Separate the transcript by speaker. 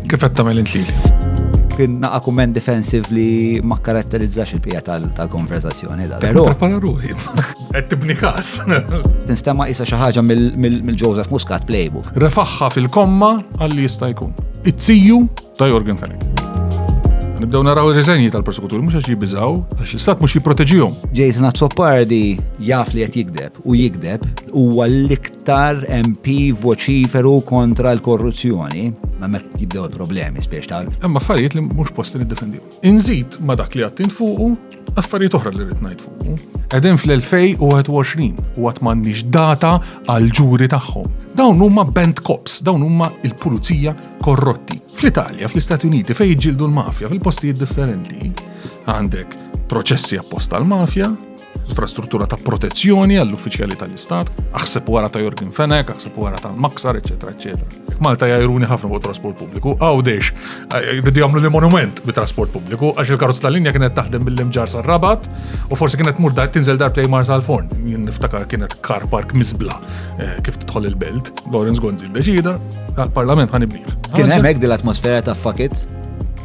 Speaker 1: Kif qed tagħmel int lili? Kien naqa'
Speaker 2: kumment defensiv li ma karatterizzax il-pija tal-konversazzjoni. Però. Prepara
Speaker 1: ruħi. Qed tibni każ. Tinstema'
Speaker 2: isa xi ħaġa mill-Joseph Muscat playbook. Refaħħa fil-komma
Speaker 1: għalli jista' jkun. It-tiju ta' Jorgen Fenech. Nibdew naraw ir-riżenji tal-persekutur, mhux għax jibbiżaw, għax l-istat mhux jipproteġihom. Jason Azzopardi
Speaker 2: jaf li qed jikdeb u jikdeb huwa l-iktar L-aktar MP voċiferu kontra l-korruzzjoni, ma mek jibdew il-problemi spiex tal. Imma affarijiet li mhux
Speaker 1: posti niddefendiju. Inżid ma dak li għattint fuqu, affarijiet oħra li rrid ngħid fuqu. Qegħdin fl-2021 u għat m'għandniex data għal ġuri tagħhom. Dawn huma band cops, dawn huma il-pulizija korrotti. Fl-Italja, fl-Istati Uniti, fejn jġildu l-mafja fil-postijiet differenti, għandek proċessi apposta l-mafja, infrastruttura ta' protezzjoni għall-uffiċjali tal-Istat, aħseb wara ta' Jorgin Fenek, aħseb wara ta' Maksar, eċetera, eċetera. Malta jajruni ħafna fuq trasport pubbliku, għawdex, jridu eh, jagħmlu li monument bi trasport pubbliku, għax il-karozz tal-linja kienet taħdem mill-imġar sa' rabat u forsi kienet mur dar tinżel dar play marsa l-forn. Niftakar kienet kar park mizbla eh, kif tidħol il-belt, Lawrence Gonzi deċida, għal-parlament ħanibniħ. Kien hemmhekk dil-atmosfera
Speaker 2: ta' fakit